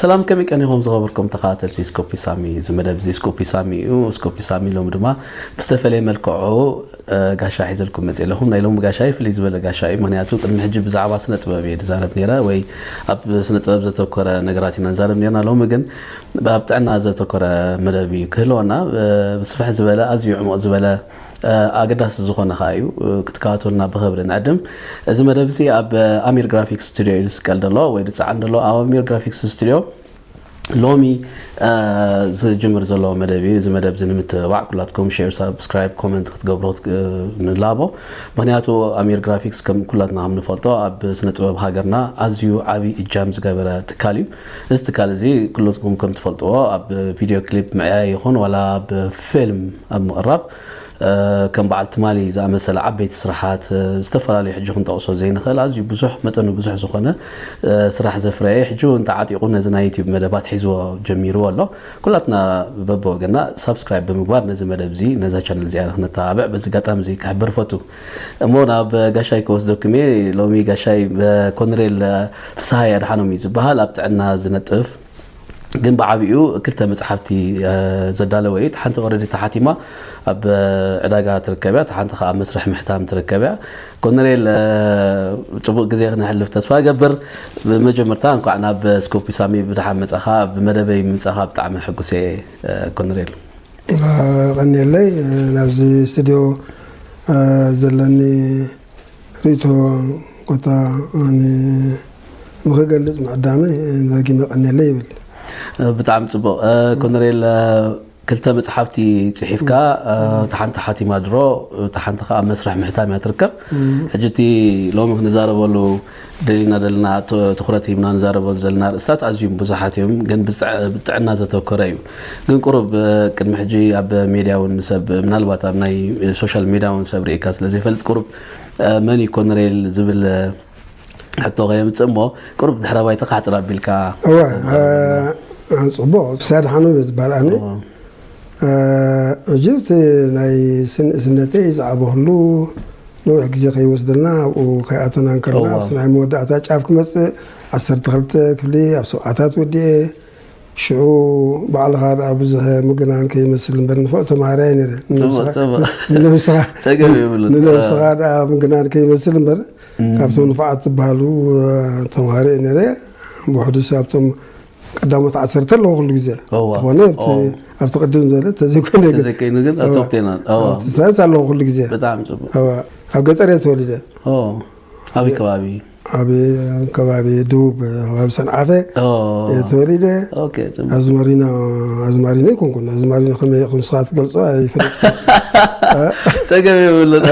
ሰላም ከመይ ቀኒኹም ዝኸበርኩም ተኸታተልቲ ስኮፒ ሳሚ እዚ መደብ እዚ ስኮፒ ሳሚ እዩ ስኮፒ ሳሚ ሎሚ ድማ ብዝተፈለየ መልክዑ ጋሻ ሒዘልኩም መፅእ ኣለኹም ናይ ሎሚ ጋሻይ ፍልይ ዝበለ ጋሻ እዩ ምክንያቱ ቅድሚ ሕጂ ብዛዕባ ስነ ጥበብ እየ ዝዛረብ ነይረ ወይ ኣብ ስነ ጥበብ ዘተኮረ ነገራት ኢና ንዛረብ ነርና ሎሚ ግን ኣብ ጥዕና ዘተኮረ መደብ እዩ ክህልወና ብስፍሕ ዝበለ ኣዝዩ ዕሙቕ ዝበለ ኣገዳሲ ዝኾነ ከኣ እዩ ክትከታተሉና ብኽብሪ ንዕድም። እዚ መደብ እዚ ኣብ ኣሚር ግራፊክስ ስቱድዮ እዩ ዝስቀል ደሎ ወይ ዝጸዓን ደሎ ኣብ ኣሚር ግራፊክስ ስቱድዮ ሎሚ ዝጅምር ዘሎ መደብ እዩ እዚ መደብ እዚ ንምትብባዕ ኩላትኩም ሼር ሳብስክራይብ ኮመንት ክትገብሩ ንላቦ ምክንያቱ ኣሚር ግራፊክስ ከም ኩላትና ከም ንፈልጦ ኣብ ስነ ጥበብ ሃገርና ኣዝዩ ዓብዪ እጃም ዝገበረ ትካል እዩ እዚ ትካል እዚ ኩሉትኩም ከም ትፈልጥዎ ኣብ ቪድዮ ክሊፕ ምዕያይ ይኹን ዋላ ኣብ ፊልም ኣብ ምቕራብ ከም በዓል ትማሊ ዝኣመሰለ ዓበይቲ ስራሓት ዝተፈላለዩ ሕጂ ክንጠቕሶ ዘይንኽእል ኣዝዩ ብዙሕ መጠኑ ብዙሕ ዝኾነ ስራሕ ዘፍረየ እዩ። ሕጂ እውን ተዓጢቑ ነዚ ናይ ዩትዩብ መደባት ኣትሒዝዎ ጀሚርዎ ኣሎ። ኩላትና በብወገና ሳብስክራይብ ብምግባር ነዚ መደብ እዚ ነዛ ቻነል እዚኣ ንክነተባብዕ በዚ ኣጋጣሚ እዚ ክሕብር እፈቱ። እሞ ናብ ጋሻይ ክወስደኩም እየ ሎሚ ጋሻይ ኮንሬል ፍስሃይ ኣድሓኖም እዩ ዝበሃል ኣብ ጥዕና ዝነጥፍ ግን ብዓቢኡ ክልተ መፅሓፍቲ ዘዳለወ እዩ ሓንቲ ኦረዲ ተሓቲማ ኣብ ዕዳጋ ትርከብ እያ ሓንቲ ከዓ መስርሕ ምሕታም ትርከብ እያ ኮነሬል ፅቡቅ ግዜ ክነሕልፍ ተስፋ ገብር ብመጀመርታ እንኳዕ ናብ ስኮፒ ሳሚ ብድሓን መፃኻ ብመደበይ ምምፃኻ ብጣዕሚ ሕጉስ እየ ኮነሬል የቐንየለይ ናብዚ ስትድዮ ዘለኒ ርእቶ ኮታ ንኽገልፅ ምዕዳመይ ደጊመ የቐንየለይ ይብል። ብጣዕሚ ፅቡቕ ኮነሬል ክልተ መፅሓፍቲ ፅሒፍካ እታ ሓንቲ ሓቲማ ድሮ እታ ሓንቲ ከዓ ኣብ መስርሕ ምሕታም እያ ትርከብ ሕጂ እቲ ሎሚ ክንዛረበሉ ደሊና ደልና ትኹረት ሂብና ንዛረበሉ ዘለና ኣርእስታት ኣዝዩም ብዙሓት እዮም፣ ግን ብጥዕና ዘተኮረ እዩ። ግን ቁሩብ ቅድሚ ሕጂ ኣብ ሜድያ እውን ንሰብ ምናልባት ኣብ ናይ ሶሻል ሜድያ እውን ሰብ ርኢካ ስለ ዘይፈልጥ ቁሩብ መን እዩ ኮነሬል ዝብል ሕቶ ከየምጽእ እሞ ቁሩብ ድሕረ ባይታኻ ሕጽር ኣቢልካ እወ ጽቡቕ ሰይድ ሓኖ ዝባል ኣነ ዕጅብት ናይ ስንእስነተይ ዝዓበኹሉ ነዊሕ ግዜ ከይወስደልና ኣብኡ ከይኣተና እንከለና ኣብቲ ናይ መወዳእታ ጫፍ ክመጽእ ዓሰርተ ክልተ ክፍሊ ኣብ ሰብዓታት ወዲኤ ሽዑ ባዕልኻ ደኣ ብዙሕ ምግናን ከይመስል እምበር ንፉዕ ተማሃራይ ነይረ ንነብስኻ ደኣ ምግናን ከይመስል እምበር ካብቶም ንፉዓት ዝበሃሉ ተማሃሮ እየ ነይረ ብውሕዱስ ኣብቶም ቀዳሞት ዓሰርተ ኣለዎ ኩሉ ግዜ ትኾነ ኣብቲ ቅድም ዝበለ ተዘይኮይነ ተዘይኮይኑ ግን ቶፕቴና ሳይንስ ኣለዎ ኩሉ ግዜ ብጣዕሚ ፅቡቅ ኣብ ገጠር እየ ተወሊደ ኣበይ ከባቢ ኣብ ከባቢ ደቡብ ከባቢ ሰንዓፈ እየ ተወሊደ ኣዝማሪኖ ኣዝማሪኖ ይኮንኩ ኣዝማሪኖ ከመይ ኢኹም ንስኻ ትገልጾ ጸገም የብሉን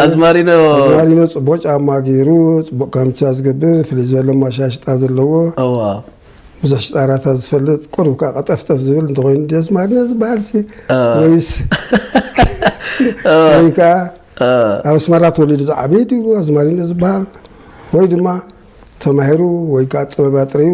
ኣዝማሪኖ ኣዝማሪኖ ጽቡቕ ጫማ ገይሩ ጽቡቕ ካምቻ ዝገብር ፍልይ ዘሎ ማሻሽጣ ዘለዎ ብዙሕ ሽጣራታት ዝፈልጥ ቁሩብ ከዓ ቀጠፍጠፍ ዝብል እንተኮይኑ ዲ ኣዝማሪኖ ዝበሃል ሲ ወይስ ወይ ከዓ ኣብ ኣስመራ ተወሊዱ ዝዓበየ ድዩ ኣዝማሪኖ ዝበሃል ወይ ድማ ተማሂሩ ወይ ከዓ ጥበብ ኣጥሪዩ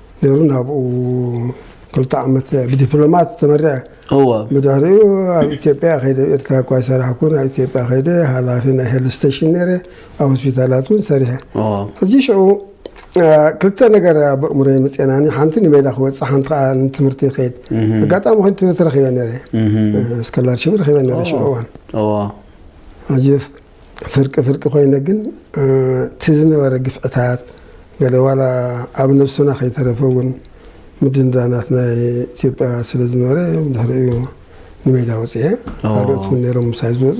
ነይሩ ናብኡ ክልተ ዓመት ብዲፕሎማት ተመሪዐ እወ ብድሕሪኡ ኣብ ኢትዮጵያ ከይደ ኣብ ኤርትራ እኳ ይሰራሕኩ ናብ ኢትዮጵያ ከይደ ሃላፊ ናይ ሄልት ስቴሽን ነይረ ኣብ ሆስፒታላት እውን ሰሪሐ እወ ሕጂ ሽዑ አ፣ ክልተ ነገር ኣብ ኣእምሮ የመፅናኒ ሓንቲ ንሜዳ ክወፅእ ሓንቲ ከዓ ንትምህርቲ ይኸይድ ኣጋጣሚ ኮይኑ ትምህርቲ ረኪበ ነይረ ስኮላርሽፕ ረኪበ ነይረ ሽዑ እዋን እወ ሕጂ ፍርቂ ፍርቂ ኮይነ ግን እቲ ዝነበረ ግፍዕታት ገለ ዋላ ኣብ ነብስና ከይተረፈ እውን ምድንዳናት ናይ ኢትዮጵያ ስለ ዝነበረ ድሕሪኡ ንሜዳ ወፅኤ ካልኦት እውን ነይሮም ምሳይ ዝወፁ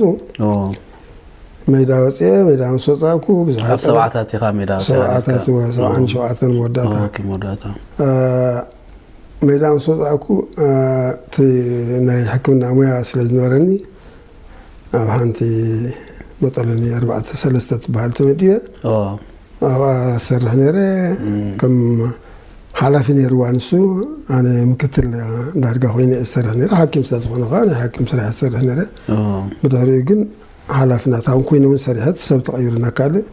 ሜዳ ወፅኤ ሜዳ ምስ ወፃእኩ ብዙሓት ሰብዓታት ኢኻ ሜዳ ሰብዓታት ሰብዓን ሸውዓተን መወዳእታ መወዳእታ ሜዳ ምስ ወፃእኩ እቲ ናይ ሕክምና ሙያ ስለ ዝነበረኒ ኣብ ሓንቲ መጠለኒ ኣርባዕተ ሰለስተ ትበሃል ተመዲበ ኣብኣ ዝሰርሕ ነይረ ከም ሓላፊ ነይርዋ ንሱ ኣነ ምክትል ዳርጋ ኮይነ እየ ዝሰርሕ ነይረ ሓኪም ስለ ዝኾነ ከዓ ናይ ሓኪም ስራሕ ዝሰርሕ ነይረ ብድሕሪኡ ግን ሓላፊ ናት ኣሁን ኮይነ እውን ሰሪሐት ሰብ ተቐይሩና ካልእ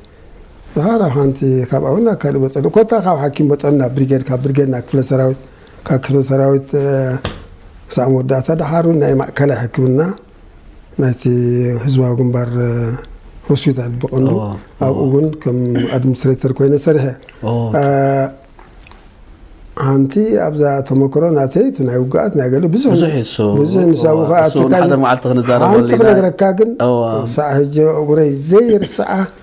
ድሓር ኣብ ሓንቲ ካብኣ እውን ናብ ካልእ መፀለኒ ኮታ ካብ ሓኪም መጠን ናብ ብሪጌድ ካብ ብሪጌድ ናብ ክፍለ ሰራዊት ካብ ክፍለ ሰራዊት ክሳዕ መወዳእታ ደሓሩ ናይ ማእከላይ ሕክምና ናይቲ ህዝባዊ ግንባር ሆስፒታል ብቐንዱ ኣብኡ እውን ከም ኣድሚኒስትሬተር ኮይነ ሰሪሐ ሓንቲ ኣብዛ ተመክሮ ናተይ እቲ ናይ ውግኣት ናይ ገለ ብዙሕ ብዙሕ ንሳቡ ከዓ ሓንቲ ክነግረካ ግን ሳዕ ህጀ እግረይ ዘይርስዓ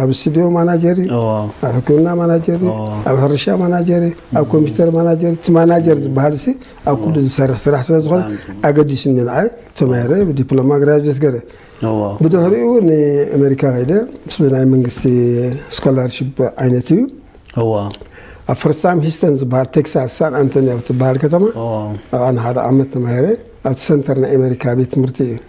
ኣብ ስቱድዮ ማናጀር እዩ፣ ኣብ ሕክምና ማናጀር እዩ፣ ኣብ ሕርሻ ማናጀር እዩ፣ ኣብ ኮምፒተር ማናጀር እቲ ማናጀር ዝበሃል ሲ ኣብ ኩሉ ዝሰርሕ ስራሕ ስለ ዝኾነ ኣገዲሱኒ ንዓይ ተማሂረ ብዲፕሎማ ግራጁዌት ገረ ብድሕሪኡ ንኣሜሪካ ከይደ ምስ ናይ መንግስቲ ስኮላርሽፕ ዓይነት እዩ ኣብ ፍርሳም ሂስተን ዝበሃል ቴክሳስ ሳን ኣንቶኒዮ ትበሃል ከተማ ኣብኣ ንሓደ ዓመት ተማሂረ ኣብቲ ሰንተር ናይ ኣሜሪካ ቤት ትምህርቲ እዩ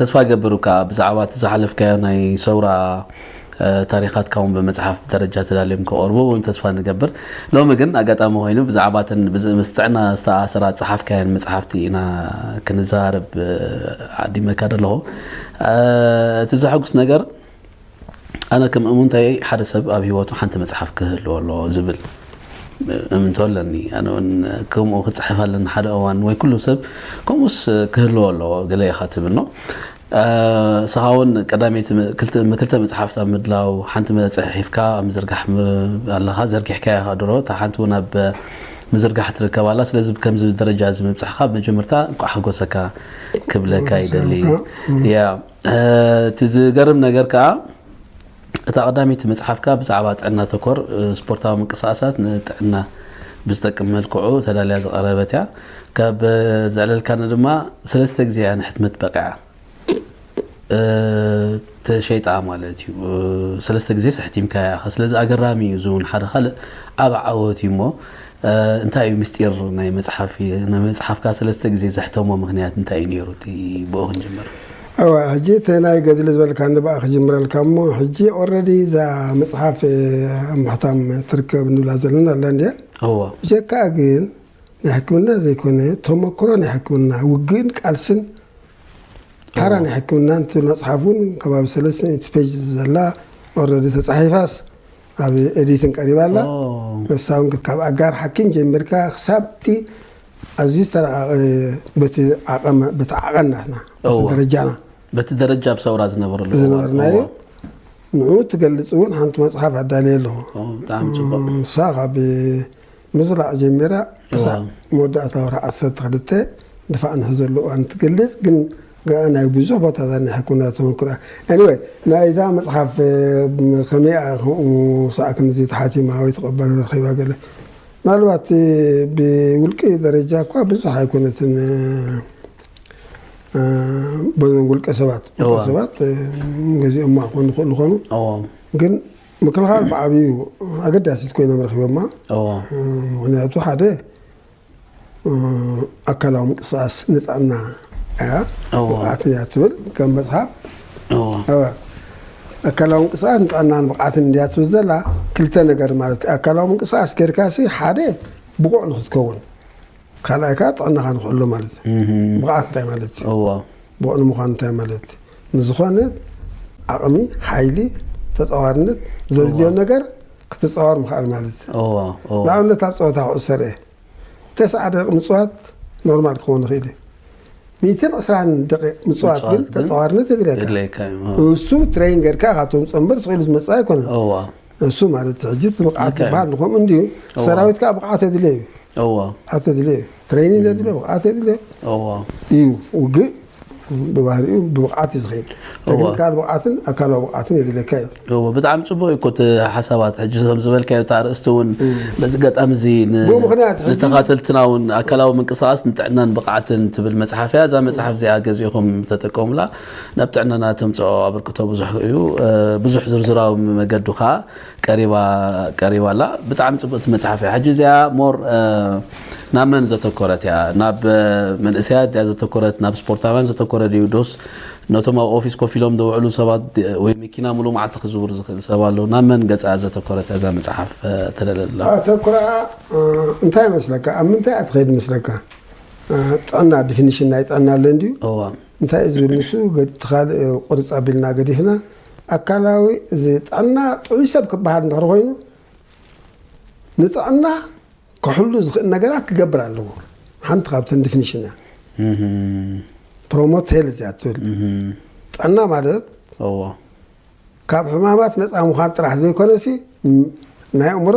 ተስፋ ይገብር እካ ብዛዕባ እቲ ዝሓለፍካዮ ናይ ሰውራ ታሪኻትካ ውን ብመጽሓፍ ደረጃ ተዳልዮም ክቐርቡ ውን ተስፋ ንገብር። ሎሚ ግን ኣጋጣሚ ኮይኑ ብዛዕባ እተን ምስ ጥዕና ዝተኣሳሰራ ዝጸሓፍካየን መጽሓፍቲ ኢና ክንዘራረብ ዓዲመካ ዘለኹ። እቲ ዘሐጉስ ነገር ኣነ ከም እሙንተይ ሓደ ሰብ ኣብ ሂወቱ ሓንቲ መጽሓፍ ክህልዎ ኣለዎ ዝብል እምንቶ ኣለኒ። ኣነ እውን ከምኡ ክጽሕፍ ኣለኒ ሓደ እዋን ወይ ኩሉ ሰብ ከምኡስ ክህልዎ ኣለዎ ገለ ኢኻ ትብል ነው። እስኻ እውን ቀዳመይቲ ክልተ መጽሓፍት ኣብ ምድላው ሓንቲ መጽሒፍካ ኣብ ምዝርጋሕ ኣለኻ ዘርጊሕካ ኢኻ ድሮ እታ ሓንቲ እውን ኣብ ምዝርጋሕ ትርከብ ኣላ ስለዚ ከምዚ ደረጃ እዚ ምብጻሕካ መጀመርታ እንኳዕ ሓጎሰካ ክብለካ ይደሊ እቲ ዝገርም ነገር ከኣ እታ ቀዳመይቲ መጽሓፍካ ብዛዕባ ጥዕና ተኮር ስፖርታዊ ምንቅስቓሳት ንጥዕና ብዝጠቅም መልክዑ ተዳልያ ዝቐረበት እያ። ካብ ዘዕለልካኒ ድማ ሰለስተ ግዜ እያ ንሕትመት በቒዓ። ተሸይጣ ማለት እዩ ሰለስተ ግዜ ስሕቲምካያ ኢኻ ስለዚ ኣገራሚ እዩ እዚ እውን ሓደ ካልእ ዓብ ዓወት እዩ እሞ እንታይ እዩ ምስጢር ናይ መጽሓፍ መጽሓፍካ ሰለስተ ግዜ ዘሕተሞ ምክንያት እንታይ እዩ ነይሩ? እቲ ብኦ ክንጅምር። እወ ሕጂ እቲ ናይ ገድሊ ዝበልካ ንብኣ ክጅምረልካ እሞ ሕጂ ኦረዲ እዛ መጽሓፍ ኣብ ምሕታም ትርከብ ንብላ ዘለና ኣላ እንድያ እወ ብጀካኣ ግን ናይ ሕክምና ዘይኮነ ተመክሮ ናይ ሕክምና ውግእን ቃልስን ታራ ናይ ሕክምና እቲ መጽሓፍ እውን ከባቢ ሰለስተ ሚእቲ ፔጅ ዘላ ኦረዲ ተጻሒፋስ ኣብ ኤዲትን ቀሪባ ኣላ። ንሳ እውን ካብ ኣጋር ሓኪም ጀሚርካ ክሳብቲ ኣዝዩ ዝተረቐቐ በቲ ዓቐን በቲ ዓቐን ናትና በቲ ደረጃና በቲ ደረጃ ኣብ ሰውራ ዝነበረሉ እዋን። ዝነበርናዮ ንኡ ትገልፅ እውን ሓንቲ መፅሓፍ ኣዳልየ ኣለኹ ኦ፣ ብጣዕሚ ፅቡቅ ንሳ ካብ ምዝራዕ ጀሚራ ክሳብ መወዳእታ ወርሒ ዓሰርተ ክልተ ድፋዕ ንሕዘሉ እዋን ትገልፅ ግን ገና ናይ ብዙሕ ቦታ ዘኒሐ ኩነ ተመክሮ Anyway ናይ እዛ መጽሓፍ ከመይ እያ ከምኡ ሳዕ ክንድዚ ተሓቲማ ወይ ተቐባልነት ረኺባ ገለ ምናልባት ብውልቂ ደረጃ እኳ ብዙሕ ኣይኮነትን በዞም ውልቀ ሰባት ውልቀ ሰባት ገዚኦማ ክኾኑ ይኽእሉ ኾኑ ግን ምክልኻል ብዓብዩ ኣገዳሲት ኮይኖም ረኺቦማ ምክንያቱ ሓደ ኣካላዊ ምንቅስቃስ ንጥዕና እያ ብቕዓትን እያ ትብል ከም መፅሓፍ ኣካላዊ ምንቅስቃስ ንጥዕናን ብቕዓትን እንድያ ትብል ዘላ ክልተ ነገር ማለት እዩ ኣካላዊ ምንቅስቃስ ጌርካ ሲ ሓደ ብቑዕ ንክትከውን ካልኣይ ከዓ ጥዕናኻ ንክሕሎ ማለት እዩ ብቕዓት እንታይ ማለት እዩ ብቑዕ ንምዃን እንታይ ማለት እዩ ንዝኾነ ዓቕሚ ሓይሊ ተፃዋርነት ዘድልዮ ነገር ክትጻወር ምኽኣል ማለት እዩ። እዎ እዎ ንኣብነት ኣብ ጸወታ ኩዕሶ ርእ ተስዓ ደቂቕ ምጽዋት ኖርማል ክኸውን ይኽእል እዩ። ሚእትን ዕስራን ደቂቕ ምጽዋት ግን ምጽዋት ግን ተጻዋርነት የድልየካ። የድልየካ እዩ። እዎ ንሱ ትሬይን ጌርካ ኢኻ ትምጾ እምበር ስቕ ኢሉ ዝመጽእ ኣይኮነን። እዎ ንሱ ማለት እቲ ሕጂ እቲ ብቕዓት ልክዕ እዩ። ዝበሃል ንከምኡ እንድዩ። እዎ ሰራዊት ከኣ ብቕዓት የድልዮ እዩ። እዎ ብቕዓት የድልዮ እዩ። ትሬይኒን የድልዮ ብቕዓት የድልዮ እዎ እዩ። ውግእ ብባህሪኡ ብብቕዓት እዩ ዝኸይድ ተክኒካል ብቕዓትን ኣካላዊ ብቕዓትን የድልየካ እዩ እወ ብጣዕሚ ጽቡቅ እዩ እኮ እቲ ሓሳባት ሕጂ ከም ዝበልካዮ እቲ ኣርእስቲ እውን በዚ ገጣሚ እዚ ን- ብኡ ምኽንያት ሕጂ- ንተኻተልትና እውን ኣካላዊ ምንቅስቃስ ንጥዕናን ብቕዓትን ትብል መጽሓፍ እያ እዛ መጽሓፍ እዚኣ ገዚእኹም ተጠቀሙላ ናብ ጥዕናና ተምጽኦ ኣበርክቶ ብዙሕ እዩ እ፣ ብዙሕ ዝርዝራዊ መገዱ ከዓ ቀሪባ ቀሪባ ኣላ ብጣዕሚ ጽብቅቲ መጽሓፍ እያ ሕጂ እዚኣ ሞር ናብ መን ዘተኮረት እያ ናብ መንእሰያት ድያ ዘተኮረት ናብ ስፖርታውያን ዘተኮረ ድዩ ዶስ ነቶም ኣብ ኦፊስ ኮፍ ኢሎም ዝውዕሉ ሰባት ወይ መኪና ምሉእ መዓልቲ ክዝውር ዝኽእል ሰብ ኣሎ ናብ መን ገጻ ዘተኮረት እያ እዛ መጽሓፍ ተደለላ ኣተኩራኣ እንታይ መስለካ ኣብ ምንታይ እያ ትኸይድ መስለካ ጥዕና ዲፊኒሽን ናይ ጥዕና ኣሎ እንድዩ እንታይ እዩ ዝብል ንሱ ገድቲ ካልእ ቁርፅ ኣቢልና ገዲፍና ኣካላዊ እዚ ጥዕና ጥዑይ ሰብ ክበሃል እንድሕር ኮይኑ ንጥዕና ክሕሉ ዝኽእል ነገራት ክገብር ኣለዎ ሓንቲ ካብተን ዲፊኒሽን እያ ፕሮሞት ሄልዝ እያ ትብል ጥዕና ማለት ካብ ሕማማት ነፃ ምዃን ጥራሕ ዘይኮነሲ ናይ እምሮ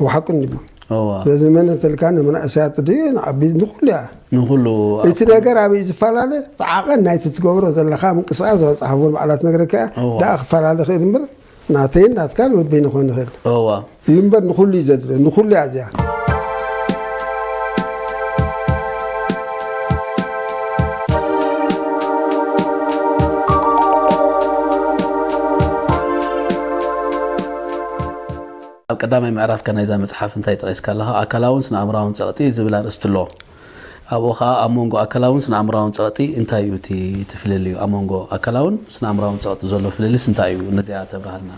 እው ሓቁ እንዲሞ እዋ ስለዚ መን እንተልካ ንመናእሰያት ድዩ ንዓቢ ንኩሉ እያ ንኹሉ እቲ ነገር ኣበይ ዝፈላለ ብዓቐን ናይቲ ትገብሮ ዘለካ ምንቅስቃስ ዝበፅሓዎ በዓላት ነገረካ እያ እዋ። ደኣ ክፈላለ ይኽእል እምበር ናተይን ናትካን ወበይኑ ክኾን ይኽእል እዋ እዩ እምበር ንኩሉ እዩ ዘድለ ንኩሉ እያ እዚኣ ኣብ ቀዳማይ ምዕራፍካ ናይዛ መጽሓፍ እንታይ ጠቒስካ ኣለኻ? ኣካላውን ስነኣእምሮኣውን ጸቕጢ ዝብል ኣርእስቲ ኣሎ። ኣብኡ ኸኣ ኣብ መንጎ ኣካላውን ስነኣእምሮኣውን ጸቕጢ እንታይ እዩ እቲ እቲ ፍልልዩ? ኣብ መንጎ ኣካላውን ስነኣእምሮኣውን ጸቕጢ ዘሎ ፍልልስ እንታይ እዩ? ነዚኣ ተብርሃልና።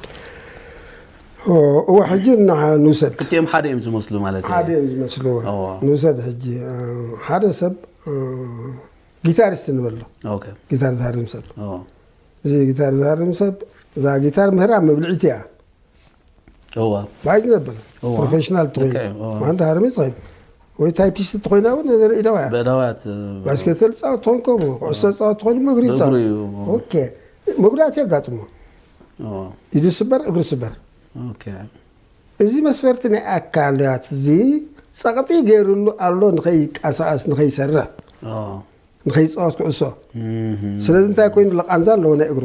እወ ሕጂ ንዓ ንውሰድ። ክልቲኦም ሓደ እዮም ዝመስሉ ማለት እየ። ሓደ እዮም ዝመስሉ እወ። እወ። ንውሰድ ሕጂ ሓደ ሰብ ጊታሪስት ንበሎ። ኦኬ። ጊታር ዝሃርም ሰብ። እወ። እዚ ጊታር ዝሃርም ሰብ እዛ ጊታር ምህራ መብልዒቱ እያ። እዋ ብሓይ ዝነብር እዋ። ፕሮፌሽናል ልክዕ ትኮይኑ እዩ፣ እዋ። ማንታ ሃርሚ ትኸይድ ወይ ታይፒስት ትኮይና እውን ነገር ኢዳዋ እያ በዳውያት ባስኬተል ፃወት ትኾን ከምኡ ኩዕሶ ፃወት ትኾን ምግሪ ብእግሩ ፃወት እዩ። ኦኬ መጉዳእቲ የጋጥሞ እዋ፣ ኢዱ ስበር እግሩ ስበር ኦኬ። እዚ መስፈርቲ ናይ ኣካላት እዚ ፀቕጢ ገይሩሉ ኣሎ ንኸይቀሳቀስ ንኸይሰርሕ እዋ፣ ንኸይፃወት ኩዕሶ እም፣ ስለዚ እንታይ ኮይኑ ለቃንዛ ኣለዎ ናይ እግሩ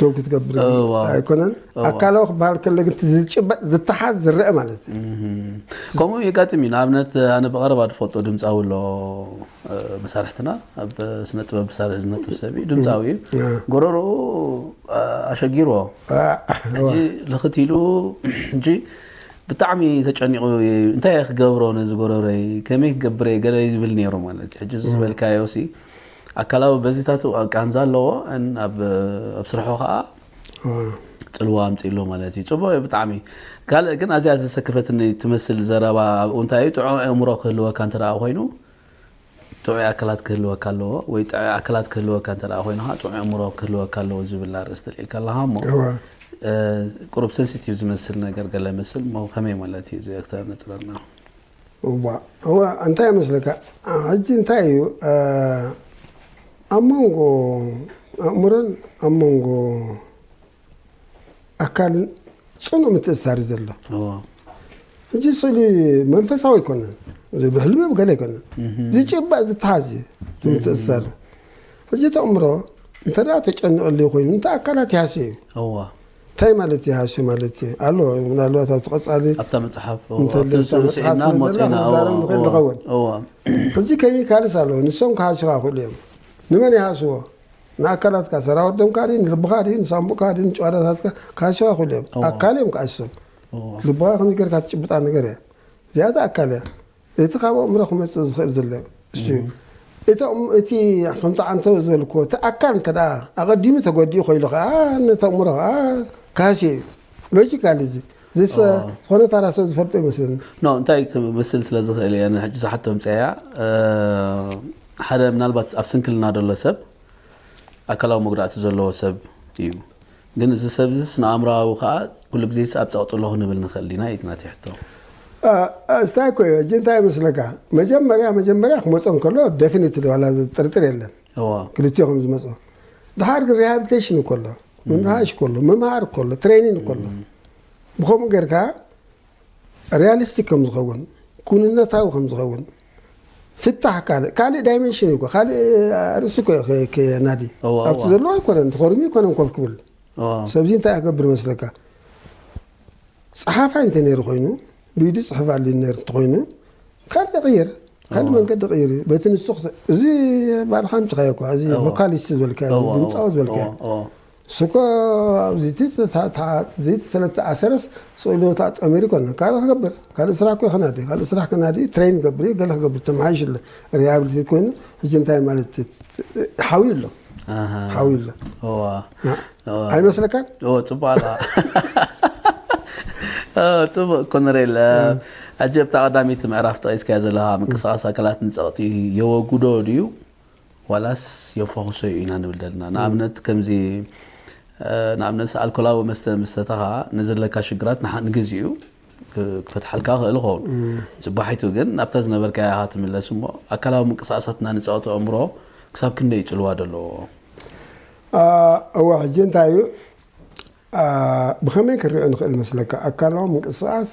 ደው ክትገብር እዎ፣ እዎ። ኣይኮነን እዎ። ኣካላዊ ክበሃል ከሎ ግን እቲ ዝጭበጥ ዝተሓዝ ዝረአ ማለት እዩ ከምኡ የጋጥም እዩ ንኣብነት ኣነ ብቐረባ ዝፈልጦ ድምፃዊ ኣሎ እ፣ መሳርሕትና ኣብ ስነ ጥበብ ብሳርሒ ዝነጥፍ ሰብ እዩ ድምፃዊ እዩ ጎረርኡ እ፣ ኣሸጊርዎ ሕጂ ልኽት ኢሉ ሕጂ ብጣዕሚ ተጨኒቑ እዩ፣ እንታይ እየ ክገብሮ ነዚ ጎረረይ ከመይ ክገብረ ገለ ይብል ነይሩ ማለት እዩ ሕጂ እዚ ዝበልካዮ ሲ ኣካላዊ በዚታቱ ቃንዛ ኣለዎ ን ኣብ ስርሑ ከኣ ጽልዋ ኣምጺእሉ ማለት እዩ ጽቡቅ እዩ ብጣዕሚ ካልእ ግን ኣዚያ ዘሰከፈትኒ ትመስል ዘረባ ኣብኡ እንታይ እዩ ጥዑይ ኣእምሮ ክህልወካ እንተ ኮይኑ ጥዑይ ኣካላት ክህልወካ ኣለዎ ወይ ጥዑይ ኣካላት ክህልወካ እንተ ኮይኑ ከኣ ጥዑይ ኣእምሮ ክህልወካ ኣለዎ ዝብል ኣርእስቲ ልዒልካ ኣለኻ እሞ ቁሩብ ሰንሲቲቭ ዝመስል ነገር ገለ መስል እሞ ከመይ ማለት እዩ እዚ ኣክተር ነጽረልና እዋእ እዋእ እንታይ ይመስለካ ሕጂ እንታይ እዩ ኣብ መንጎ ኣእምሮን ኣብ መንጎ ኣካልን ፅኑዕ ምትእስሳር እዩ ዘሎ እዎ ሕጂ ስእሊ መንፈሳዊ ኣይኮነን እዚ ብሕልሚ ብገለ ኣይኮነን ዝጭባእ ዝተሓዝ እዩ እቲ ምትእስሳር ሕጂ ተእምሮ እንተ ተጨንቐሉ ኮይኑ እንተ ኣካላት ይሃስየ እዩ እዎ ታይ ማለት እዩ ሃሰ ማለት እዩ ኣሎ ምናልባት ኣብቲ ቀፃሊ ኣብታ መፅሓፍ እዎ እንተሎ ኣብቲ እታ መፅሓፍ ስዒድና እሞ ስለዘላ ፅኢና እዎ ክንዛረብ ንኽእል እዎ ንኸውን እዎ ሕጂ ኬሚካልስ ኣለዉ ንሶም ክሃሱኻ ይኽእሉ እዮም ንመን ይሃስዎ ንኣካላትካ ሰራውር ደምካ ድዩ ንልብኻ ድዩ ንሳንቡእካ ድዩ ንጭዋዳታትካ ክሃሱኻ ይኽእሉ እዮም እዎ ኣካል እዮም ክሃስሶም እዎ ልብኻ ከመይ ጌርካ ትጭብጣ ነገር እያ እዚኣ እታ ኣካል እያ እቲ ካብ ኣእምሮ ክመጽእ ዝኽእል ዘሎ እሱ እዩ። እቶም እቲ ከምቲ ዓንተቦ ዝበልክዎ እቲ ኣካል እንተደኣ ኣቐዲሙ ተጎዲኡ ኮይሉ ከኣ ነቲ ኣእምሮ ከኣ ክሃስዮ እዩ። ሎጂካሊ እዚ ዝሰ ዝኾነ ታራ ሰብ ዝፈልጦ ይመስለኒ። ኖ እንታይ ክምስል ስለ ዝኽእል እየ ሕጂ ዝሓቶ ኣምጽኣያ ሓደ ምናልባት ኣብ ስንክልና ዘሎ ሰብ ኣካላዊ መጉዳእቲ ዘለዎ ሰብ እዩ። ግን እዚ ሰብዚ ስነኣእምሮኣዊ ከኣ ኩሉ ግዜስ ኣብ ጸቕጥሎ ክንብል ንኽእል ዲና እዩ'ቲ ናተይ ሕቶ። እስታይ እኮ እዮ እጂ እንታይ መስለካ መጀመርያ መጀመርያ ክመጾ እንከሎ ደፊኒትሊ ዋላ ዘጥርጥር የለን እዎ ክልቲኦ ከም ዝመጾ ድሓር ግን ሪሃብሊቴሽን እኮ ኣሎ ምምሃሽ እኮ ኣሎ ምምሃር እኮ ኣሎ ትሬኒን እኮ ኣሎ ብከምኡ ጌርካ ሪያሊስቲክ ከም ዝኸውን ኩንነታዊ ከም ዝኸውን ፍታሕ ካልእ ካልእ ዳይመንሽን እዩ ካልእ ኣርእስቲ እኮ ከናዲ ኣብቲ ዘለዎ ኣይኮነን ተኸርኙ ኣይኮነን ኮፍ ክብል ሰብዚ እንታይ ኣገብር መስለካ ፀሓፋይ እንተ ነይሩ ኮይኑ ብኢዱ ፅሕፍ ኣሉ ነር እንተኮይኑ ካልእ ይቕይር ካልእ መንገዲ ቅይር እዩ በቲ ንሱ እዚ ባልካ ምፅኻዮ እኳ እዚ ቮካሊስት ዝበልካ ድምፃዊ ዝበልካ ንሱ'ኳ ኣብዚ'ቲ ጽታታት ዚት ስለ እተኣሰረስ፣ ጽእሎት ኣጠሚሩ ይኰንነ። ካልእ ክገብር፣ ካልእ ስራሕ'ኮ ይኸናዲ፣ ካልእ ስራሕ ከናዲ'ዩ፣ ትረይን ክገብር'ዩ፣ ገለ ክገብር'ዩ፣ ተመሓይሹ ኣሎ፣ ሪሃብሊቴት ኰይኑ፣ ሕጂ እንታይ ማለት'ዩ፣ ሓውዩ ኣሎ፣ ኣሃ፣ ሓውዩ ኣሎ። እወ፣ እ፣ እወ፣ ኣይመስለካን? እወ፣ ጽቡቕ ኣለኻ። እ፣ ጽቡቕ ኮነሬል፣ እ፣ ሕጂ ኣብታ ቀዳመይቲ ምዕራፍ ጠቒስካዮ ዘለኻ ምንቅስቓስ ኣካላት ንጸቕጢ የወግዶ ድዩ ዋላስ የፋኹሶ'ዩ ኢና ንብል ዘለና? ንኣብነት ከምዚ ንኣብነት ኣልኮላዊ መስተ ምስ ሰተኻ ንዘለካ ሽግራት ንግዚኡ ክፈትሓልካ ክእል ይኸውን። ጽባሒቱ ግን ናብታ ዝነበርካያ ኢኻ ትምለስ እሞ ኣካላዊ ምንቅስቓሳት እና ንጻወት ኣእምሮ ክሳብ ክንደይ እዩ ጽልዋ ዘለዎ? እወ ሕጂ እንታይ እዩ ብኸመይ ክንሪኦ ንኽእል መስለካ ኣካላዊ ምንቅስቓስ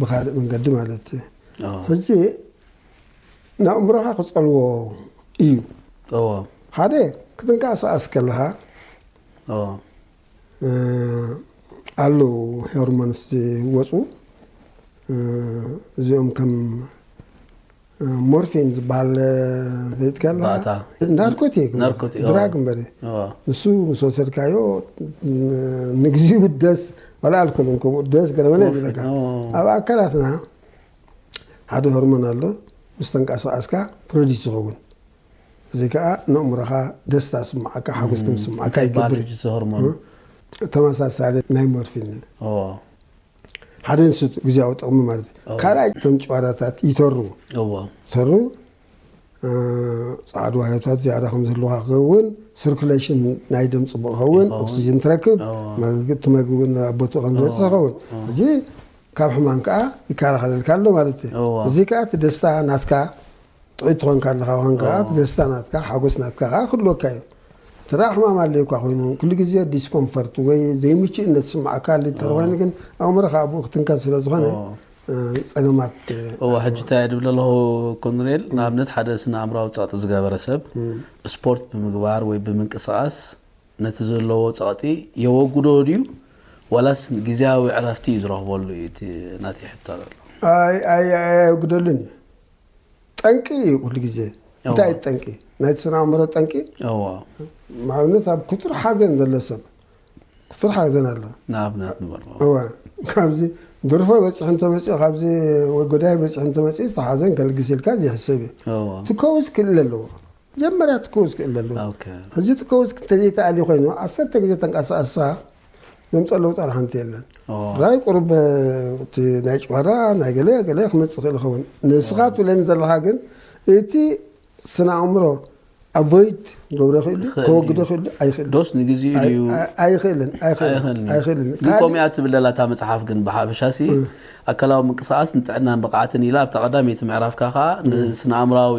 ብኻልእ መንገዲ ማለት ሕጂ ንኣእምሮኻ ክጸልዎ እዩ ሓደ ክትንቀሳቀስ ከለኻ ኣለዉ ሄርሞንስ ዝወፁ እዚኦም ከም ሞርፊን ዝበሃል ዘይትከላ ባእታ። ናርኮቲክ ናርኮቲክ፣ ኣዎ። ድራግ እምበር እዩ። እዎ። ንሱ ምስ ወሰድካዮ ንግዚኡ ደስ ዋላ ኣልኮል እውን ከምኡ ደስ ገለ መለ ሞርፊን፣ ይብለካ ኣዎ። ኣብ ኣካላትና ሓደ ሆርሞን ኣሎ ምስ ተንቀሳቐስካ ፕሮዲስ ይኸውን እዚ ከዓ ንእምሮኻ ደስታ ስምዓካ ሓጎስ ከም ዝስምዓካ እንታይ ይገብር ይበሃል እዩ። እዚ ሆርሞን? ተመሳሳሊ ናይ ሞርፊን እዩ እዎ። ሓደ ንሱ ግዝያዊ ጥቕሚ ማለት እዩ። እዎ። ካልኣይ እቶም ጭዋዳታት ይተሩ እዎ። ይተሩ እ፣ ጸዓዱ ዋህዮታት ዝያዳ ከም ዝህልውካ ክኸውን ስርኩሌሽን ናይ ደም ጽቡቕ ክኸውን ይኸውን። ኦክሲጅን ትረክብ እዎ። መግ- እቲ መግቢ እውን ኣብ ቦትኡ ከም ዝበጽሕ ክኸውን እዚ ካብ ሕማም ከዓ ይከላኸለልካ ኣሎ ማለት እዩ እዎ። እዚ ከዓ እቲ ደስታ ናትካ ጥዑይ ትኾንካ ኣለኻ ዋን ከኣ እቲ ደስታ ናትካ ሓጎስ ናትካ ከኣ ክህልወካ እዩ። እንተደኣ ሕማም ኣልዩ እኳ ኮይኑ ኩሉ ግዜ ዲስኮምፈርት ወይ ዘይምቹእነት ዝስምዓካ ኣልዩ እንተ ኮይኑ ግን ኣእምሮኻ ኣብኡ ክትንከፍ ስለ ዝኾነ ጸገማት እዎ ሕጂ እንታይ እየ ድብል ኣለኹ ኮሎኔል ንኣብነት ሓደ ስነ ኣእምሮኣዊ ጸቕጢ ዝገበረ ሰብ ስፖርት ብምግባር ወይ ብምንቅስቓስ ነቲ ዘለዎ ጸቕጢ የወግዶ ድዩ ዋላስ ግዝያዊ ዕረፍቲ እዩ ዝረኽበሉ እዩ እቲ ናተይ ሕቶ ኣሎ። ኣይ ኣይ ኣየወግደሉን እዩ ጠንቂ እዩ ኩሉ ግዜ እንታይ እዩ ጠንቂ ናይቲ ስነ ኣእምሮ ጠንቂ ንኣብነት ኣብ ክቱር ሓዘን ዘሎ ሰብ ክቱር ሓዘን ኣሎ ንኣብነት ንበሎ እወ ካብዚ ድርፎ በፂሑ እንተመፅኡ ካብዚ ወይ ጎዳይ በፂሑ እንተመፅኡ ዝተሓዘን ከልግስ ኢልካ ዘይሕሰብ እዩ ትከውስ ክእል ኣለዎ መጀመርያ ትከውስ ክእል ኣለዎ ሕጂ ትከውስ እንተዘይተኣልዩ ኮይኑ ዓሰርተ ግዜ ተንቀሳቀስካ ዘምፀ ለውጢ ዋላ ሓንቲ የለን ራይ ቁሩብ እቲ ናይ ጭዋዳ ናይ ገለ ገለ ክመፅእ ይኽእል ይኸውን ንስኻ ትብለኒ ዘለኻ ግን እቲ ስነ ኣእምሮ ኣቮይድ ገብረ ይኽእሉ ከወግዶ ይኽእሉ ኣይኽእልን ዶስ ንግዚኡ ድዩ ኣይኽእልን ኣይኽእልን ኣይኽእልን ግን ከምኡ እያ ትብል ዘላ እታ መፅሓፍ ግን ብሓፈሻ ሲ ኣካላዊ ምንቅስቓስ ንጥዕናን ብቕዓትን ኢላ ኣብታ ቀዳመይቲ ምዕራፍካ ከዓ ንስነ ኣእምራዊ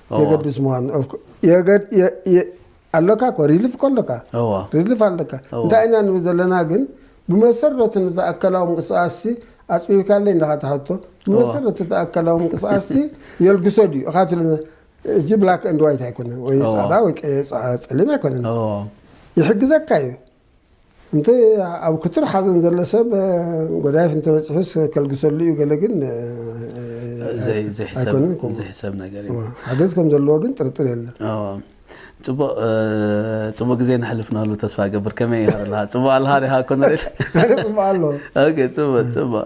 የገድስ ምዃኑ ኣለካ እኮ ሪሊፍ እኮ ኣለካ ሪሊፍ ኣለካ እንታይ ኢና ንብል ዘለና ግን ብመሰረቱ ነቲ ኣካላዊ ምንቅስቃስሲ ኣፅቢብካለይ እንዳኻ ትሓቶ ብመሰረቱ እቲ ኣካላዊ ምንቅስቃስሲ የልግሶ ድዩ እኻ ትብለ እዚ ብላክ እንድ ዋይት ኣይኮነን ወይ ፃዕዳ ወይ ፀሊም ኣይኮነን ይሕግዘካ እዩ እንተ ኣብ ክትር ሓዘን ዘሎ ሰብ ጎዳይፍ እንተበፂሑስ ከልግሰሉ እዩ ገለ ግን ኣይኮንን ሓገዝ ከም ዘለዎ ግን ጥርጥር የለን ፅቡቅ ፅቡቅ ግዜ ነሕልፍናሉ ተስፋ ገብር ከመይ ኣለካ ፅቡቅ ኣለካ ዲካ ኮነሬል ፅቡቅ ኣሎ ፅቡቅ ፅቡቅ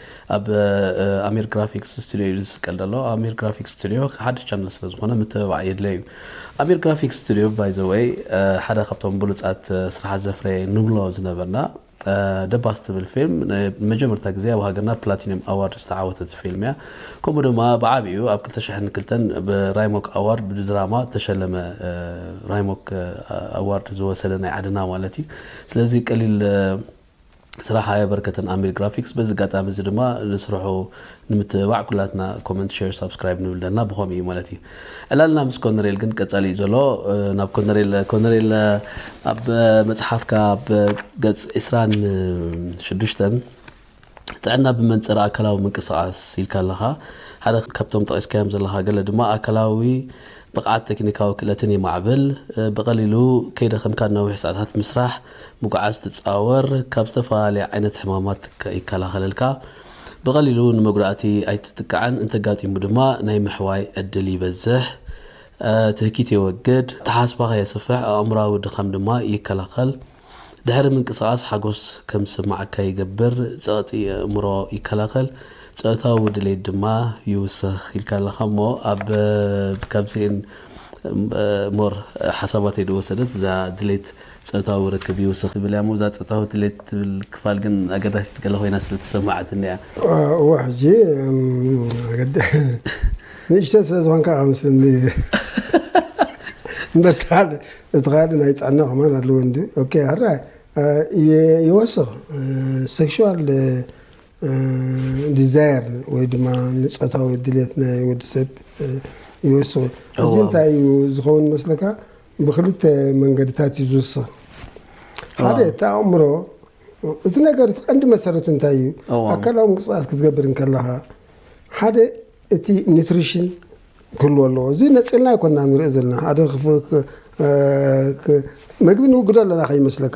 ኣብ ኣሚር ግራፊክስ ስቱድዮ ኢሉ ዝስቀል ዘሎ ኣሚር ግራፊክስ ስቱድዮ ሓድሽ ቻነል ስለ ዝኾነ ምትብባዕ የድልዮ እዩ። ኣሚር ግራፊክስ ስቱድዮ ባይ ዘ ወይ ሓደ ካብቶም ብሉጻት ስራሓት ዘፍረየ ንብሎ ዝነበርና ደባስ ትብል ፊልም ንመጀመርታ ግዜ ኣብ ሃገርና ፕላቲንዮም ኣዋርድ ዝተዓወተት ፊልም እያ። ከምኡ ድማ ብዓቢኡ ኣብ ክልተ ሽሕን ክልተን ብራይሞክ ኣዋርድ ብድራማ ዝተሸለመ ራይሞክ ኣዋርድ ዝወሰደ ናይ ዓድና ማለት እዩ። ስለዚ ቀሊል ስራሕ ኣየበርከተን ኣሚር ግራፊክስ በዚ ኣጋጣሚ እዚ ድማ ንስርሑ ንምትብባዕ ኩላትና ኮመንት ሼር ሳብስክራይብ ንብል ኣለና ብከምኡ እዩ ማለት እዩ ዕላልና ምስ ኮነሬል ግን ቀጻሊ እዩ ዘሎ ናብ ኮነሬል ኮነሬል ኣብ መጽሓፍካ ኣብ ገጽ 26 ጥዕና ብመንጽር ኣካላዊ ምንቅስቃስ ኢልካ ኣለኻ ሓደ ካብቶም ጠቂስካዮም ዘለኻ ገለ ድማ ኣካላዊ ብቕዓት ቴክኒካዊ ክእለትን የማዕብል ብቐሊሉ ከይደኸምካ ነዊሕ ሰዓታት ምስራሕ ምጉዓዝ ትጻወር፣ ካብ ዝተፈላለየ ዓይነት ሕማማት ይከላኸለልካ፣ ብቐሊሉ ንመጉዳእቲ ኣይትጥቃዕን፣ እንተጋጢሙ ድማ ናይ ምሕዋይ ዕድል ይበዝሕ፣ ትህኪት የወግድ፣ ኣተሓሳስባኻ የስፍሕ፣ ኣእምሮኣዊ ድኻም ድማ ይከላኸል። ድሕሪ ምንቅስቓስ ሓጎስ ከም ዝስምዓካ ይገብር፣ ጸቕጢ ኣእምሮ ይከላኸል፣ ጾታዊ ድሌት ድማ ይውስኽ ኢልካ ኣለኻ እሞ ኣብ ካብዚኤን more ሓሳባተይ ዝወሰደት እዛ ድሌት ጾታዊ ርክብ ይውስኽ ትብል እያ'ሞ እዛ ጾታዊ ድሌት ትብል ክፋል ግን ኣገዳሲት ገለ ኮይና ስለ ተሰማዓትኒ እያ። እወ ሕጂ ንእሽተይ ስለ ዝኾንካ ከም ስኒ እምበር እቲ ካልእ እቲ ካልእ ናይ ጥዕና ከማን ኣለዎ እንድዩ ኦኬ ሕራይ ይወስኽ ሴክሹዋል ዲዛየር ወይ ድማ ንጾታዊ ድሌት ናይ ወዲ ሰብ ይወስኽ እዩ። ሕጂ እንታይ እዩ ዝኸውን መስለካ ብክልተ መንገድታት እዩ ዝውሰን። ሓደ እቲ ኣእምሮ እቲ ነገር እቲ ቀንዲ መሰረቱ እንታይ እዩ? ኣካላዊ ምንቅስቃስ ክትገብር እንከለኻ ሓደ እቲ ኒትሪሽን ክህልዎ ኣለዎ። እዚ ነፂልና ኣይኮና ንሪኦ ዘለና ሓደ መግቢ ንውግዶ ኣለና ከይመስለካ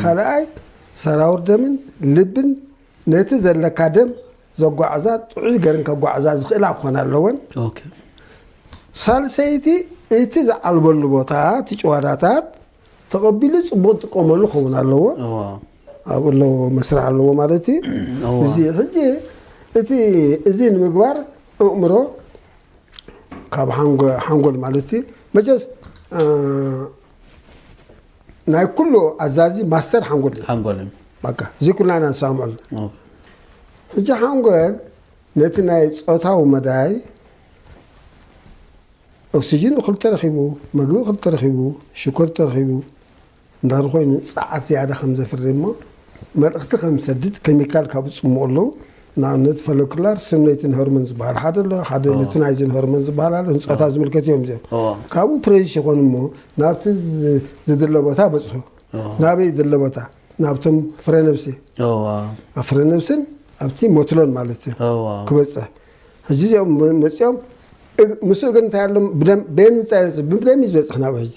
ካልኣይ ሰራውር ደምን ልብን ነቲ ዘለካ ደም ዘጓዕዛ ጥዑይ ገርን ከጓዕዛ ዝኽእላ ክኾና ኣለወን። ሳልሰይቲ እቲ ዝዓልበሉ ቦታ እቲ ጭዋዳታት ተቐቢሉ ፅቡቅ ዝጥቀመሉ ክኸውን ኣለዎ ኣብኡ ኣለዎ መስርሕ ኣለዎ ማለት እዩ እዚ ሕጂ እቲ እዚ ንምግባር እእምሮ ካብ ሓንጎል ማለት እዩ መቸስ ናይ ኩሉ ኣዛዚ ማስተር ሓንጎል እዩ ሓንጎል እዩ በቃ እዚ ኩልና ኢና ንሰማምዐሉ ኦኬ። ሕጂ ሓንጎል ነቲ ናይ ፆታዊ መዳይ ኦክሲጅን እኹል ተረኺቡ መግቢ እኹል ተረኺቡ ሽኮር ተረኺቡ እንዳር ኮይኑ ፀዓት ዝያዳ ከም ዘፍሪ እሞ መልእኽቲ ከም ዝሰድድ ኬሚካል ካብ ዝፅሙቑ ኣለዉ ንኣብነት ፈሎክላር ስም ናይትን ሆርሞን ዝበሃል ሓደ ኣሎ ሓደ ኦ። ሉቲናይዝን ሆርሞን ዝበሃል ኣሎ ንፆታ ዝምልከት እዮም እዚኦም ኦ። ካብኡ ፕሬዚስ ይኾኑ እሞ ናብቲ ዝ- ዝድለ ቦታ በፅሑ ናበይ ዝድለ ቦታ ናብቶም ፍረ ነብሲ እዋ ኣብ ፍረ ነብስን ኣብቲ ሞትሎን ማለት እዩ እዋ ክበፅሕ ሕጂ እዚኦም መ- መፂኦም እግ- ምስኡ ግን እንታይ ኣሎ ብደም- በየን ምንታይ ዝበፅሕ? ብደም እዩ ዝበፅሕ ናብ ሕጂ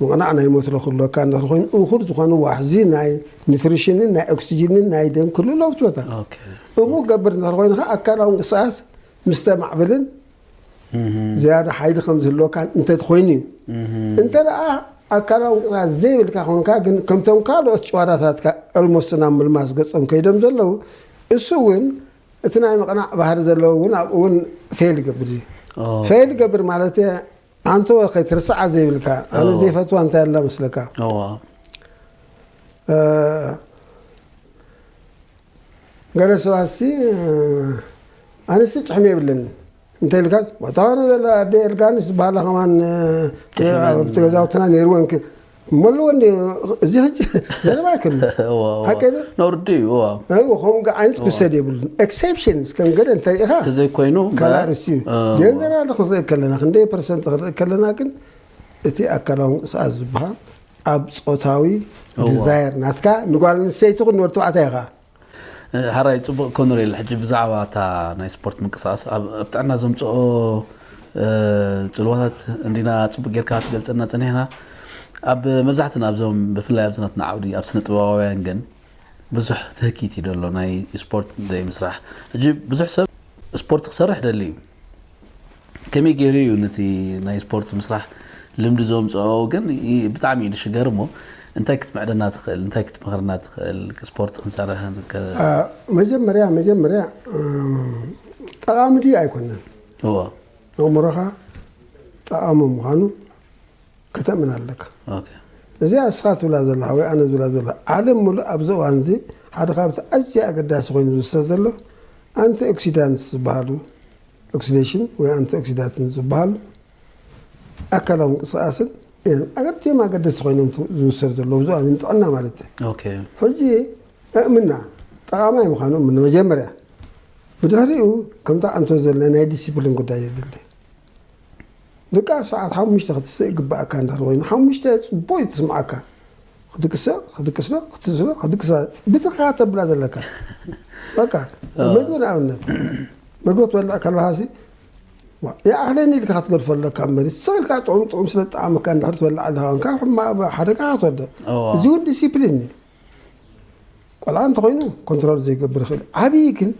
ምቕናዕ ናይ ሞትረ ክህልወካ እንድሕሪ ኮይኑ እኹል ዝኾነ ዋሕዚ ናይ ኒትሪሽንን ናይ ኦክስጂንን ናይ ደም ክህልው ኣለዎ ትበታ እሙ ክገብር እንድሕሪ ኮይኑ ከዓ ኣካላዊ እንቅስቃስ ምስ ተማዕብልን ዝያዳ ሓይሊ ከም ዝህልወካን እንተትኮይኑ እዩ እንተ ኣካላዊ እንቅስቃስ ዘይብልካ ኮንካ ግን ከምቶም ካልኦት ጨዋዳታትካ ኦልሞስት ናብ ምልማስ ገጾም ከይዶም ዘለዉ እሱ እውን እቲ ናይ ምቕናዕ ባህሪ ዘለዎ እውን ኣብኡ እውን ፌል ይገብር እዩ ፌል ይገብር ማለት ኣንቶ ከይትርስዓ ዘይብልካ ኣነ ዘይፈትዋ እንታይ ኣላ መስለካ ገለ ሰባሲ ኣነሲ ጭሕሚ የብለኒ እንተ ኢልካ ቦታዋነ ዘላ ኣደ ኤልጋንስ ዝበሃላ ከማን ኣብቲ ገዛውትና ነይርወን መለዎ እንዲ እዚ ሕጂ ዘረባ ኣይኮነ ሓቂ ዶ ነውርዲ እዩ እዋ ኣይዎ ከምኡ ዓይነት ክውሰድ የብሉን ኤክሴፕሽንስ ከም ገለ እንተሪኢኻ ተዘይኮይኑ ካልእ ኣርእስቲ እዩ ጀነራል ክንርኢ ከለና ክንደይ ፐርሰንት ክንርኢ ከለና ግን እቲ ኣካላዊ ምንቅስቓስ ዝበሃል ኣብ ፆታዊ ዲዛየር ናትካ ንጓል ኣንስተይቲ ኹን ንወዲ ተባዕታይ ኢኻ ሐራይ ጽቡቅ ኮነሬል ሕጂ ብዛዕባ እታ ናይ ስፖርት ምንቅስቃስ ኣብ ጥዕና ዘምጽኦ ጽልዋታት እንዲና ጽቡቅ ጌርካ ትገልጸና ጸኒሕና ኣብ መብዛሕትና ኣብዞም ብፍላይ ኣብዚ ናትና ዓውዲ ኣብ ስነ ጥበባውያን ግን ብዙሕ ትህኪት እዩ ደሎ ናይ ስፖርት ዘይምስራሕ ሕጂ ብዙሕ ሰብ ስፖርት ክሰርሕ ደሊ እዩ ከመይ ገይሩ እዩ ነቲ ናይ ስፖርት ምስራሕ ልምዲ ዘምፅኦ ግን ብጣዕሚ እዩ ዝሽገር እሞ እንታይ ክትምዕደና ትኽእል እንታይ ክትመኽርና ትኽእል ስፖርት ክንሰርሕ መጀመርያ መጀመርያ ጠቓሚ ድዩ ኣይኮነን እዎ ኣእምሮኻ ጠቓሚ ምዃኑ ከተምን ኣለካ ኦኬ እዚኣ እስኻ ትብላ ዘለኻ ወይ ኣነ ዝብላ ዘለኹ ዓለም ምሉእ ኣብዚ እዋን እዚ ሓደ ካብቲ ኣዝዩ ኣገዳሲ ኮይኑ ዝውሰድ ዘሎ ኣንቲ ኦክሲዳንትስ ዝበሃሉ ኦክሲዴሽን ወይ ኣንቲ ኦክሲዳትን ዝበሃሉ ኣካላዊ ምንቅስቓስን እዮም ኣገድቲዮም ኣገደስቲ ኮይኖም ት- ዝውሰድ ዘሎ ኣብዚ እዋን እዚ ንጥዕና ማለት እዩ ኦኬ ሕጂ እእምና ጠቓማይ ምዃኑ እምነ መጀመርያ ብድሕሪኡ ከምታ ኣንቶ ዘለ ናይ ዲሲፕሊን ጉዳይ የድሊ ድቃስ ሰዓት ሓሙሽተ ክትስእ ይግበኣካ እንድሕር ኮይኑ ሓሙሽተ ጽቡቅ እዩ ትስምዓካ ክትቅሰ ክትቅስሎ ክትስእስሎ ክትቅስላ ብትርካ ተብላ ዘለካ በቃ መግቢ ንኣብነት መግቢ ክትበልዕ ከለካሲ ይኣኽለኒ ኢልካ ክትገድፎ ኣለካ እምበር ስቕ ኢልካ ጥዑም ጥዑም ስለ ዝጠዓመካ እንድሕር ትበልዕ ኣለካ ኮንካ ሕማ- ሓደጋ ክትወድቕ እዎ። እዚ እውን ዲሲፕሊን እዩ ቆልዓ እንተኮይኑ ኮንትሮል ዘይገብር ይኽእል ዓብዪ ግን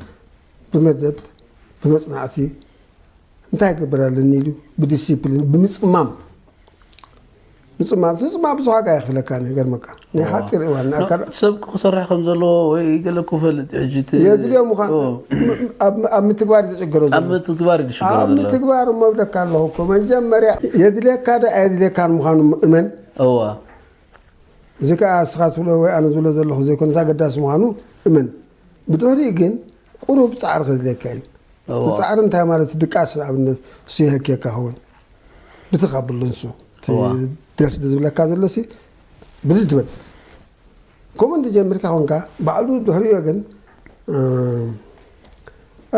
ብመደብ ብመፅናዕቲ እንታይ ይገብር ኣለኒ ኢሉ ብዲሲፕሊን ብምፅማም ምፅማም ትፅማም ብዙሕ ዋጋ የኽፍለካ ይገርመካ ናይ ሓፂር እዋን ናይ ካልእ ሰብ ክሰርሕ ከም ዘለዎ ወይ ገለ ክፈልጥ እዩ ሕጂ እቲ የድልዮ ምዃን ኦ፣ ኣብ- ኣብ ምትግባር እዩ ዝጭገሮ ዘሎ ኣብ ምትግባር እዩ ዝሽገር ኣብ ዘሎ ምትግባር እሞ እብለካ ኣለኹ እኮ መጀመርያ የድልየካ ዶ ኣየድልየካን ምዃኑ እመን እዋ እዚ ከዓ እስኻ ትብሎ ወይ ኣነ ዝብሎ ዘለኹ ዘይኮነስ ኣገዳሲ ምዃኑ እመን ብድሕሪኡ ግን ቁሩብ ጻዕሪ ከድልየካ እዩ። እቲ ጻዕሪ እንታይ ማለት እዩ? ድቃስ ንኣብነት እሱ የሀክየካ ይኸውን ብትኽ ኣብሎ ንሱ እቲ ደስ ዝብለካ ዘሎሲ ብድድ ትብል ከምኡ እንተጀሚርካ ኮንካ ባዕሉ ድሕሪኡ ግን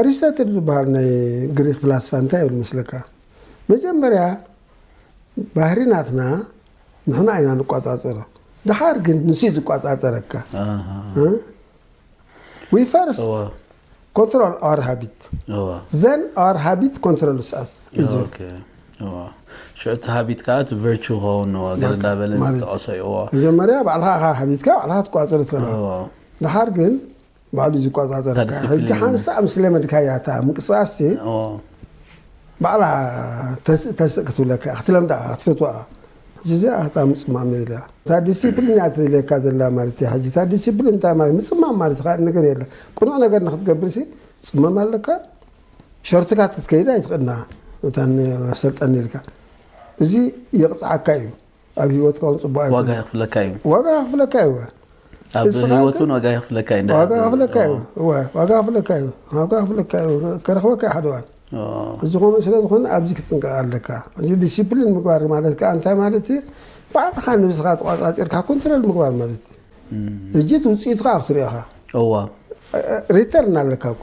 ኣሪስቶትል ዝበሃል ናይ ግሪክ ፍላስፋ እንታይ ይብል መስለካ መጀመርያ ባህሪ ናትና ንሕና ኢና ንቆፃፀሮ ድሓር ግን ንሱ እዩ ዝቆፃፀረካ ዊ ፈርስት ኮንትሮል ኣር ሃቢት ዘን ኣር ሃቢት ኮንትሮል ስኣስ እዚ ሽዑ እቲ ሃቢት ከዓ እቲ ቨርቹ ክኸውን ነዎ ገለ እንዳበለ ዝጠቐሶ እዩዎ መጀመርያ ባዕልኻ ኢኻ ሃቢትካ ባዕልኻ ትቆፃፀሮ ትኸላ ድሓር ግን ባዕሉ እዩ ዝቆፃፀረካ እታ ሕጂ ዲሲፕሊን። ሓንሳእ ምስ ለመድካያ እታ ምንቅስቃስ ሲ ኦ፣ ባዕላ ተስእ ተስእ ክትብለካ እያ ክትለምዳ እያ ክትፈትዋ እያ ሕጂ እዚኣ እታ ምፅማም እያ ኢላ እታ ዲሲፕሊን እያ ትብለካ ዘላ ማለት እያ ሕጂ እታ ዲሲፕሊን እንታይ ማለት ምፅማም ማለት ካልእ ነገር የለን ቅኑዕ ነገር ንክትገብር ሲ ፅመም ኣለካ ሸርትካ ክትከይድ ኣይትኽእልና እታ ን- ኣሰልጠኒ ኢልካ እዚ የቕፅዓካ እዩ ኣብ ሂወትካ ውን ፅቡቅ ኣይኮነን ዋጋ የኽፍለካ እዩ ዋጋ ከኽፍለካ እዩ እወ ኣብ ንስኻ ህይወት ግን- እውን ዋጋ የኽፍለካ እዩ ዋጋ ከኽፍለካ እዩ እወ ዋጋ ከኽፍለካ እዩ ዋጋ ከኽፍለካ እዩ ከረኽበካ እዩ ሓደ እዋን እዚ ከምኡ ስለ ዝኾነ ኣብዚ ክትጥንቀቕ ኣለካ እዚ ዲሲፕሊን ምግባር ማለት ከዓ እንታይ ማለት እዩ ባዕልኻ ንብስኻ ተቋፃፂርካ ኮንትሮል ምግባር ማለት እዩ እጅት ውፅኢቱ ከዓ ክትሪኦ ኢኻ እዋ ሪተርን ኣለካ እኮ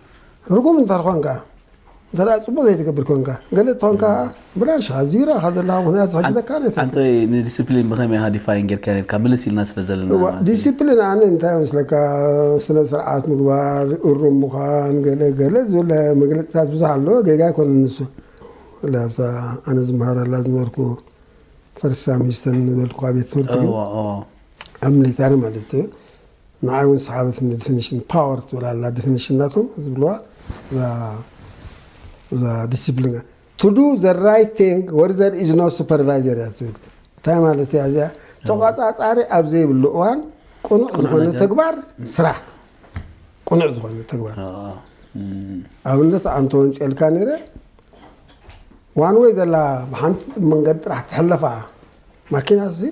ርጉም እንተርኾንካ እንተ ፅቡቅ ዘይትገብር ኮንካ ገለ ትኾን ከዓ ብላሽ ኣዝዩ ረኻ ዘለካ ምክንያት ዝሕግዘካ ነት ኣንተ ንዲስፕሊን ብኸመይ ኢኻ ዲፋይን ጌርካ ኔርካ ምልስ ኢልና ስለ ዘለና ማለት እዩ። ዲሲፕሊን ኣነ እንታይ መስለካ ስነ ስርዓት ምግባር እሩም ምዃን ገለ ገለ ዝብል መግለፅታት ብዙሕ ኣሎ ጌጋ ኣይኮነን ንሱ ብፍላይ ኣብታ ኣነ ዝመሃረላ ዝነበርኩ ፈርስት ሳም ሂስተን ዝበልኩካ ቤት ትምህርቲ ግን እዋ እዋ ኣብ ሚሊታሪ ማለት እዩ ንዓይ ውን ሰሓበትኒ ድፍንሽን ፓወር ትብል ኣላ ድፍንሽን ናቶም ዝብልዋ እዛ ዲሲፕሊን to do the right thing where there is no supervisor እያ ትብል እንታይ ማለት እያ እዚኣ ተቋፃፃሪ ኣብ ዘይብሉ እዋን ቅኑዕ ዝኾነ ተግባር ስራሕ ቅኑዕ ዝኾነ ተግባር ኣብነት ኣንተ ወንጨልካ ነይረ ዋን ወይ ዘላ ብሓንቲ መንገዲ ጥራሕ ትሕለፋ ማኪና ሲ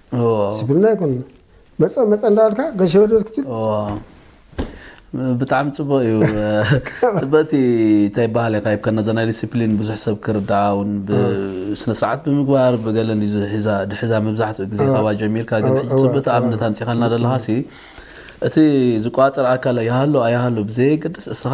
ስብልና ይኮን መፀ መፀ እንዳበልካ ገሸበደበት ክትብል ብጣዕሚ ፅቡቅ እዩ ፅብቅቲ እንታይ ይበሃል ኢካ ይብካ ነዛ ናይ ዲስፕሊን ብዙሕ ሰብ ክርዳኣ እውን ብስነስርዓት ብምግባር ብገለን እዩ ዝሕዛ- ድሕዛ መብዛሕትኡ ግዜ ካብኣ ጀሚርካ ግን ሕጂ ፅብቅቲ ኣብነት ኣምፂኻልና ዘለካ ሲ እቲ ዝቆፃፀር ኣካል ይሃሉ ኣይሃሉ ብዘየገድስ እስኻ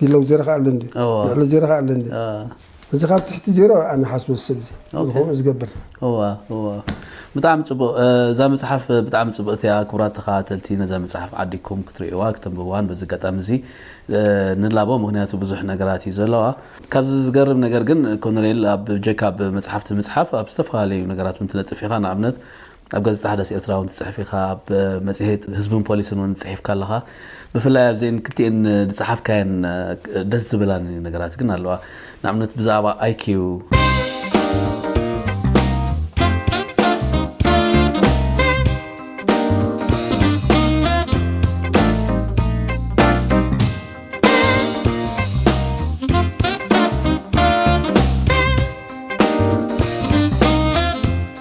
ዜሎ ዜሮ ከ ኣሎ እንዲ ልዕሎ ዜሮ ከ ኣሎ እንዲ እዚ ካብ ትሕቲ ዜሮ ኣነ ሓስቦ ሰብ እዚ ዝኸውን ዝገብር እዋ እዋ ብጣዕሚ ፅቡቅ እ፣ እዛ መፅሓፍ ብጣዕሚ ፅብቅቲ እያ ክቡራት ተኸታተልቲ ነዛ መፅሓፍ ዓዲግኩም ክትርእይዋ ክተንብብዋን በዚ ኣጋጣሚ እዚ እ፣ ንላቦ ምክንያቱ ብዙሕ ነገራት እዩ ዘለዋ ካብዚ ዝገርም ነገር ግን ኮነሬል ኣብ ጀካ ብ መፅሓፍቲ ምፅሓፍ ኣብ ዝተፈላለዩ ነገራት ውን ትነጥፍ ኢኻ ንኣብነት ኣብ ጋዜጣ ሓዳስ ኤርትራ እውን ትጽሕፍ ኢኻ፣ ኣብ መጽሔት ህዝብን ፖሊስን እውን ጽሒፍካ ኣለኻ። ብፍላይ ኣብዘን ክልቲኤን ዝጸሓፍካየን ደስ ዝብላኒ ነገራት ግን ኣለዋ። ንኣብነት ብዛዕባ ኣይኪው።